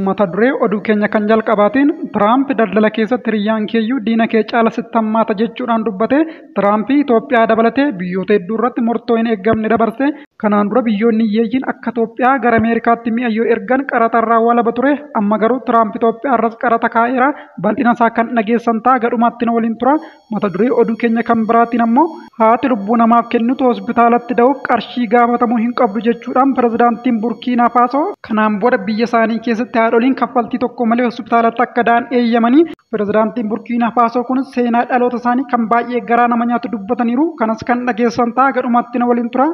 mata duree oduu keenya kan jalqabaatiin Tiraamp daldala keessatti hiriyyaan keeyyuu diina kee caala sitti hammaata jechuudhaan dubbate Tiraamp Itoophiyaa dabalatee biyyoota hedduu irratti murtoo hin eeggamne dabarse kanaan dura biyyoonni hiyyeeyyiin akka Itoophiyaa gara Ameerikaatti mi'a yoo ergan qaraxa irraa walaba ture amma garuu Tiraamp Itoophiyaa irras qaraxa kaa'eera bal'ina isaa kan dhageessan ta'a gadhumaatti na waliin tura Mata duree oduu keenya kan biraatiin ammoo haati lubbuu namaaf kennitu hospitaalatti da'uuf qarshii gaafatamuu hin qabdu jechuudhaan pirezidaantiin Burkiinaa Faasoo kanaan booda biyya isaanii keessatti haadholiin kaffaltii tokko malee hospitaalatti akka da'an eeyyamanii pirezidaantiin Burkiinaa Faasoo kun seenaa dhaloota isaanii kan baay'ee garaa nama nyaatu dubbataniiru kanas kan dhageessan ta'a gadhumaatti na waliin tura.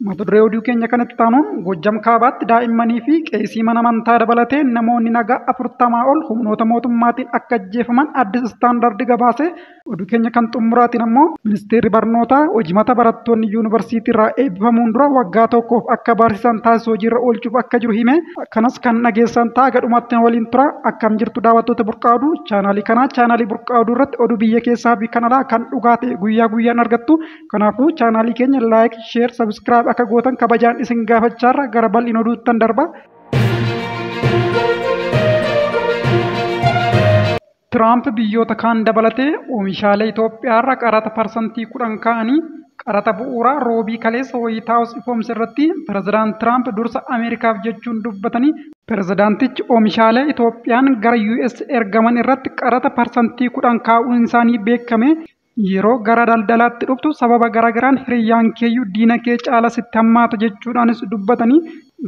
Mata duree oduu keenya kan itti aanuun Goojjam Kaabaatti daa'immanii fi qeesii mana amantaa dabalatee namoonni nagaa afurtamaa ol humnoota mootummaatiin akka ajjeefaman Addis Istaandaardi gabaase. Oduu keenya kan xumuraatiin ammoo Ministeerri Barnootaa hojimata barattoonni yuunivarsiitiirraa eebbifamuun dura waggaa tokkoof akka barsiisan taasisu hojiirra oolchuuf akka jiru hime. Kanas kan dhageessan ta'a haga dhumaatti nu waliin tura. Akkam jirtu daawwattoota Burqaa Oduu chaanaalii kanaa. Chaanaalii Burqaa Oduu irratti oduu biyya keessaa fi kan alaa kan dhugaa ta'e guyyaa guyyaan argattu. Kanaafuu chaanaalii keenya like, share, subscribe akka gootan kabajaan isin gaafachaarra gara bal'ina oduuttan darba. Tiraamp biyyoota kaan dabalatee oomishaalee Itoophiyaarra qaraxa parsantii kudhan kaa'anii qaraxa bu'uuraa roobii kaleessa Waayit Haawus ifoomse irratti pirezidaant Tiraamp dursa Ameerikaaf jechuun dubbatanii pirezidaantichi oomishaalee Itoophiyaan gara US ergaman irratti qaraxa parsantii kudhan kaa'uun isaanii beekame Yeroo gara daldalaatti dhuftu sababa garaagaraan hiriyyaankeeyyuu diinakee caala sitti hammaata jechuudhaanis dubbatanii,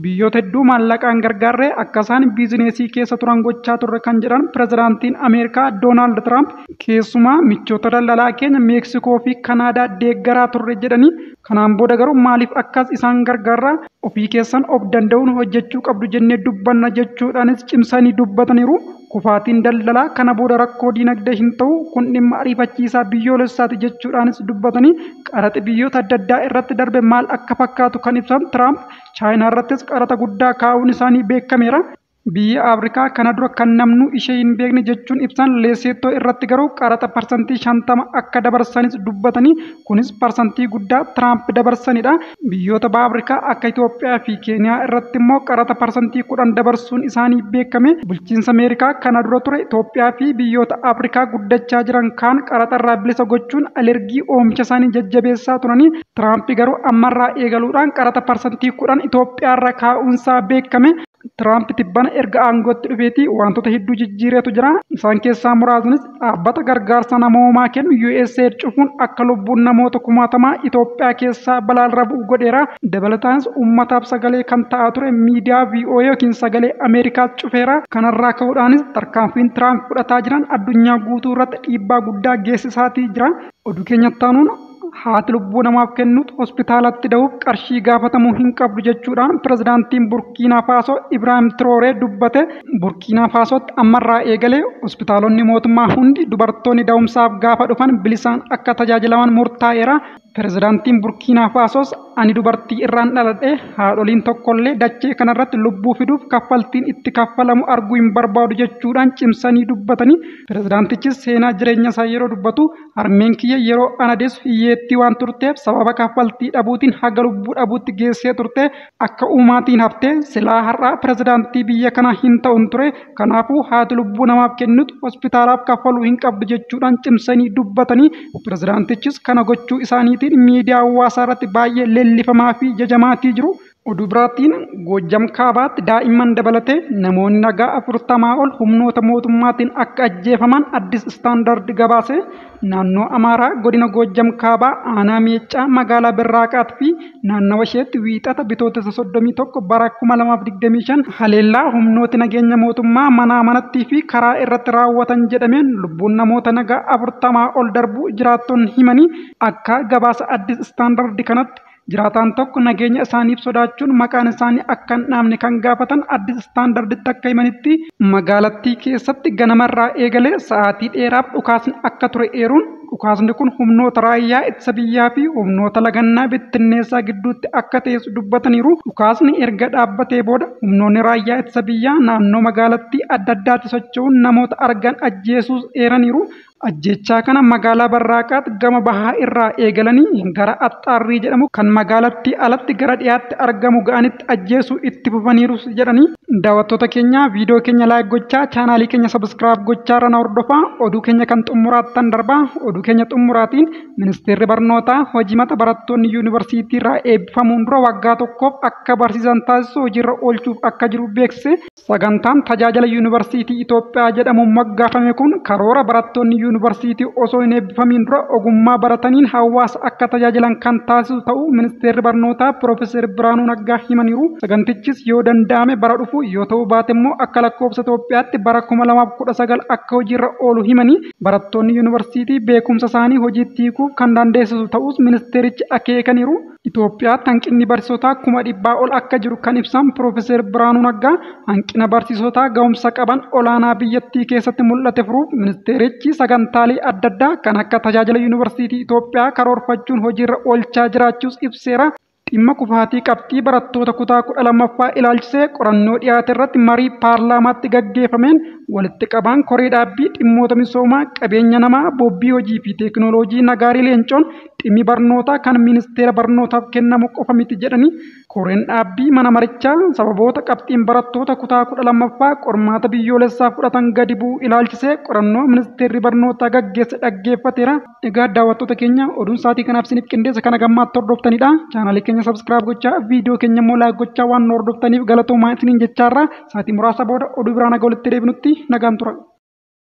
biyyoota hedduu maallaqaan gargaarree akka isaan biizineesii keessa turan gochaa turre kan jedhan Pirezidaantiin Ameerikaa Doonaald Tiraamp, keessumaa michoota daldalaa keenya Meeksikoofi Kanaadaa deeggaraa turre jedhanii, Kanaan booda garuu maaliif akkas isaan gargaarra? Ofii keessan of danda'uun hojjechuu qabdu jennee dubbanna jechuudhaanis cimsanii dubbataniiru. Kufaatiin daldalaa kana booda rakkoo diinagdee hin ta'u, kun dhimma ariifachiisaa biyyoolessaati jechuudhaanis dubbatanii, qaraxi biyyoota adda addaa irratti darbe maal akka fakkaatu kan ibsan Tiraamp, Chaayinaarrattis qaraxa guddaa kaa'uun isaanii beekameera. Biyya Afrikaa kana dura kan namnuu ishee hin beekne jechuun ibsan Leeseettoo irratti garuu qaraxa parsantii 50 akka dabarsanis dubbatanii kunis parsantii guddaa Tiraamp dabarsanidha. Biyyoota Baha Afrikaa akka Itoophiyaa fi Keeniyaa irratti immoo qaraxa parsantii 10 dabarsuun isaanii beekame. Bulchiinsa Ameerikaa kana dura ture Itoophiyaa fi biyyoota Afrikaa guddachaa jiran kaan qaraxarraa bilisa gochuun alergii oomisha isaanii jajjabeessaa turanii Tiraamp garuu ammarraa eegaluudhaan qaraxa parsantii 10 Itoophiyaarra kaa'uunsaa beekame. Tiraamp tibbana erga aangootti dhufeetii wantoota hedduu jijjiireetu jira. Isaan keessaa muraasnis dhaabbata gargaarsa namoomaa kennu USAID cufuun akka lubbuun namoota kumaatamaa Itoophiyaa keessaa balaarra bu'u godheera. Dabalataanis uummataaf sagalee kan ta'aa ture miidiyaa VOA yookiin sagalee Ameerikaas cufeera. Kanarraa ka'uudhaanis tarkaanfiin Tiraamp fudhataa jiran addunyaa guutuu irratti dhiibbaa guddaa geessisaatii jira. Oduu keenyatti aanuun haati lubbuu namaaf kennutu hospitaalatti dahuuf qarshii gaafatamuu hin qabdu jechuudhaan pirezidaantiin Burkiinaa Faasoo Ibraahim Tirooree dubbate. Burkiinaa Faasootti ammarraa eegalee hospitaalonni mootummaa hundi dubartoonni dahumsaaf gaafa dhufan bilisaan akka tajaajilaman murtaa'eera. Pirezidaantiin Burkiinaa Faasoos ani dubartii irraan dhaladhe haadholiin tokkollee dachee kanarratti lubbuu fiduuf kaffaltiin itti kaffalamu arguu hin barbaadu jechuudhaan cimsanii dubbatanii pirezidaantichis seenaa jireenya isaa yeroo dubbatu Harmeen kiyya yeroo ana deessu hiyyeettii waan turteef sababa kaffaltii dhabuutiin haga lubbuu dhabuutti geessee turte. Akka uumaatiin hafte. Silaa har'a pirezidaantii biyya kanaa hin ta'un ture. Kanaafuu haati lubbuu namaaf kennitu hospitaalaaf kaffaluu hin qabdu jechuudhaan cimsanii dubbatanii pirezidaantichis kana gochuu isaaniitiin miidiyaa hawaasaarratti baay'ee leellifamaafi jajamaatii jiru. Oduu biraatiin Goojjam Kaabaatti daa'imman dabalatee namoonni nagaa 40 ol humnoota mootummaatiin akka ajjeefaman Addis Standard gabaase. Naannoo Amaaraa godina Goojjam Kaabaa aanaa Meeccaa magaalaa Birraaqaat fi naannawa isheetti wiixata bitootessa 31 bara 2025 haleellaa humnooti nageenya mootummaa manaa manattii fi karaa irratti raawwatan jedhameen lubbuun namoota nagaa 40 ol darbuu jiraattonni himanii akka gabaasa Addis Standard kanatti Jiraataan tokko nageenya isaaniif sodaachuun maqaan isaanii akka hin dhaamne kan gaafatan Addis Standarditti akka himanitti magaalattii keessatti ganamarraa eegalee sa'aatii dheeraaf dhukaasni akka ture eeruun dhukaasni kun humnoota raayyaa ittisa biyyaa fi humnoota lagannaa bittinneessaa gidduutti akka ta'es dubbataniiru. Dhukaasni erga dhaabbatee booda humnoonni raayyaa ittisa biyyaa naannoo magaalattii adda addaatti socho'uun namoota argan ajjeesuus eeraniiru. Ajjeechaa kana magaalaa Barraaqaat gama bahaa irraa eegalanii gara Axxaarrii jedhamu kan magaalattii alatti gara dhiyaatti argamu ga'anitti ajjeesuu itti fufaniirus jedhanii, Daawattoota keenya viidiyoo keenya like gochaa chaanaalii keenya subscribe gochaa irra na hordofaa oduu keenya kan xummuraattan darba oduu keenya xummuraatiin Ministeerri Barnootaa hojimata barattoonni Yuunivarsiitiirraa eebbifamuun dura waggaa tokkoof akka barsiisan taasisu hojiirra oolchuuf akka jiru beeksise Sagantaan tajaajila Yuunivarsiitii Itoophiyaa jedhamuun moggaafame kun karoora barattoonni yuunivarsiitii osoo hin eebbifamiin dura ogummaa barataniin hawaasa akka tajaajilan kan taasisu ta'uu Ministeerri Barnootaa Piroofeser Birhaanuu Naggaa himaniiru. Sagantichis yoo danda'ame bara dhufu yoo ta'uu baate immoo akka lakkoofsa Itoophiyaatti bara 2019 akka hojiirra oolu himanii, barattoonni yuunivarsiitii beekumsa isaanii hojiitti hiikuuf kan dandeessisu ta'uus ministeerichi akeekaniiru. Itoophiyaatti hanqinni barsiisotaa kuma dhibbaa ol akka jiru kan ibsan Piroofeser Birhaanuu Naggaa, hanqina barsiisotaa gahumsa qaban olaanaa biyyattii keessatti mul'ate furuuf ministeerichi sagantaalee adda addaa kan akka tajaajila Yuunivarsiitii Itoophiyaa karoorfachuun hojiirra oolchaa jiraachuus ibseera. Dhimma kufaatii qabxii barattoota kutaa 12ffaa ilaalchisee qorannoo dhiyaaterratti marii paarlaamaatti gaggeeffameen walitti qabaan koree dhaabbii dhimmoota misoomaa, qabeenya namaa, boobbii hojii fi teekinooloojii Nagaarii Leencoon Dhimmi barnootaa kan ministeera barnootaaf kennamu qofa miti jedhanii, koreen dhaabbii mana marichaa sababoota qabxiin barattoota kutaa 12ffaa qormaata biyyoolessaa fudhatan gadi bu'uu ilaalchisee qorannoo ministeerri barnootaa gaggeesse dhaggeeffateera. Egaa daawwattoota keenya oduun saatii kanaaf isiniif qindeesse kan agammaatti hordoftanidha. Chaanaalii keenya subscribe gochaa viidiyoo keenya immoo like gochaa waan nu hordoftaniif galatoomaa isiniin jechaarra saatii muraasa booda oduu biraan haga walitti deebinutti nagaan tura.